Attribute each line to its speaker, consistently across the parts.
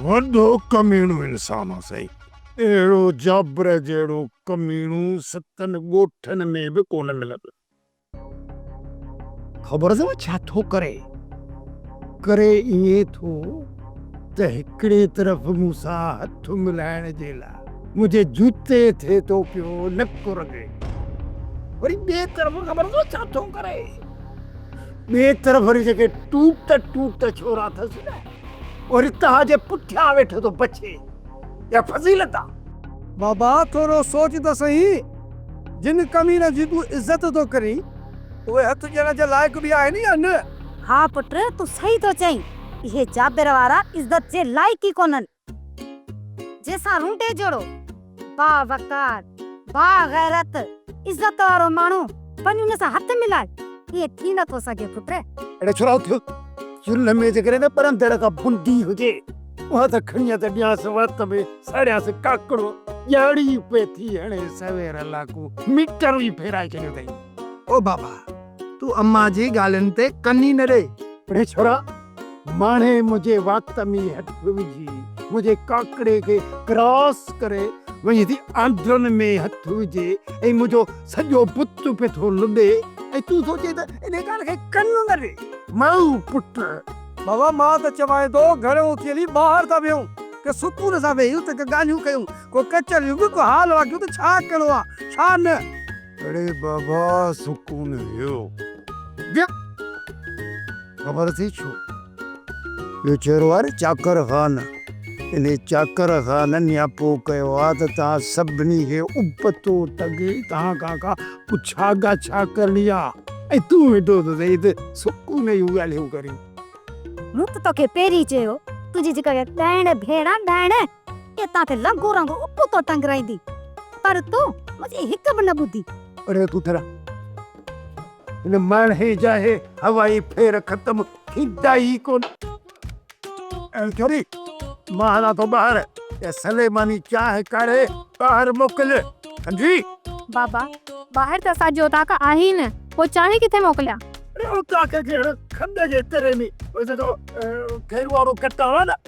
Speaker 1: وڏو ڪميڻو انسان آ سائين. اهڙو جابر جهڙو ڪميڻو ستن ڳوٺن ۾ به ڪونه ملندو. خبر اٿم ڇا ٿو ڪري. ڪري ائين ٿو ته هڪڙي طرف مون سان هٿ ملائڻ جي لاء منهنجي جوتي ٿئي ٿو پيو نڪ رڳي. وري ٻئي طرف خبر اٿم ڇا ٿو ڪري. ٻئي طرف وري جيڪي ٽوٽ ٽوٽ ڇورا اٿس نه. او رتاء جي پٺيان ويٺو ٿو بچي، اها فضيلت آ. بابا
Speaker 2: ٿورو سوچ ته سهي، جن ڪمينن جي تون عزت ٿو ڪرين، اهي هٿ ڏيڻ جي لائق به آهن يا نه؟ ها پٽ
Speaker 3: تون سهي ٿو چئين، اهي جابر وارا عزت جي لائق ئي ڪونهن. جنهن سان رونڊي جوڙو. با وقار، با غيرت، عزت وارو ماڻهو وڃي ان سان هٿ ملائي، ائين ٿي نه ٿو سگهي پٽ. اهڙو ڇو راهو ٿيو؟
Speaker 1: چلهه ۾ جيڪڏهن نه پر اندر ڪا بندي هجي، اها ته کڻي يا ته ڏيانس وات ۾ ساڙيانس ڪاڪڙو، ڄاڙي پئي ٿي هڻي سوير لاکو ميٽر ئي ڦيرائي ڇڏيو اٿئي. او بابا،
Speaker 2: تون امان جي ڳالهين تي ڪن ئي نه ڏي. اڙي ڇورا!
Speaker 1: ماڻهي منهنجي وات ۾ هٿ وجهي منهنجي ڪاڪڙي کي ڪراس ڪري وڃي ٿي آنڊرن ۾ هٿ وجهي ۽ منهنجو سڄو بت پئي ٿو لڏي ۽ تون سوچين ته انهي ڪار کي ڪن نه ڏي مئو پٽ. بابا مان
Speaker 2: ته چوانء ٿو گهر اوٿي هلي ٻاهر ٿا ويهون ڪي سڪون سان ويهيون ته ڪي ڳالهيون ڪيون ڪو ڪچهريون به ڪو حال واقعو ته ڇا ڪرڻو آ ڇا نه. اڙي
Speaker 1: بابا سڪون ويو. ويو خبر اٿئي ڇو اهو چهرو آهي نه چاڪر خان انهي چاڪر خان نياپو ڪيو آهي ته توهان سڀني کي ابتو تڳي توهان کان ڪا پڇا ڳاڇا ڪرڻي آهي ۽ تون ويٺو ته سهي ته سڪون جون ڳالهيون ڪرين. مون ته
Speaker 3: توکي پهرين چيو تنهنجي جيڪا اها ڳائڻ ڀيڻ آهي ڳائڻ. اتان تي لنگهو رنگهو ابتو ٽنگرائيندي، پر تون منهنجي هڪ به نه ٻڌي. اڙي ڪوترا،
Speaker 1: هن ماڻهي جا اهي هوائي ڦير ختم ٿيندا ئي ڪونه. اي ڇوري، مان هلان ٿو ٻاهر، اها سليماني چانهه ڪاڙهي ٻاهر موڪل، سمجهي؟ بابا،
Speaker 4: ٻاهر ته اسان جي اوطاق آهي ئي نه، پوء چانهه ڪٿي موڪليان؟ اڙي اوطاق
Speaker 1: کي هن کنڊ جي تري ۾ وجهي ٿو، کير وارو ڪٽان آهي نه.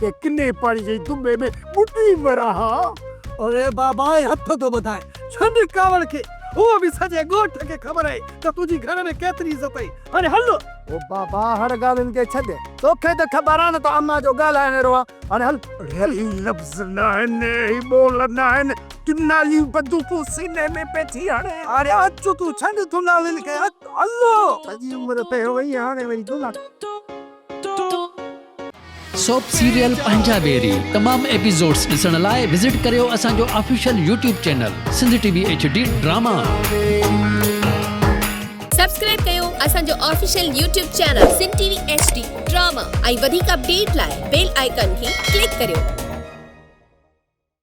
Speaker 1: ڪنهن ڪني پاڻي جي دٻي ۾ ٻڏي مران ها. اڙي بابا
Speaker 2: اي هٿ ٿو ٻڌاء، ڇڏ ڪاوڙ کي، هو به سڄي ڳوٺ کي خبر آهي ته تنهنجي گهر ۾ ڪيتري عزت آهي، هاڻي هل. او بابا
Speaker 1: هڙ ڳالهين کي ڇڏ، توکي ته خبر آهي نه ته امان جو ڳالهائڻ اهڙو آهي، هاڻي هل. اڙي هي لفظ ناهن، هي ٻول ناهن، دوناليون بندوقون سيني ۾ پئي ٿي هڻي. هاڻي اچ تون
Speaker 2: ڇڏ دونالين کي، هت هل. سڄي عمر
Speaker 1: پهرو هئي هاڻي وري دونالين.
Speaker 5: سوپ سيريل پنهنجا ويري تمام ايپيسوڊس ڏسڻ لاء وزٽ ڪريو اسان جو official YouTube channel Sindh T V H D drama.
Speaker 6: Subscribe ڪيو اسان جو official YouTube channel Sindh T V H D drama ۽ وڌيڪ اپڊيٽ لاء بيل آئيڪان کي ڪلڪ ڪريو.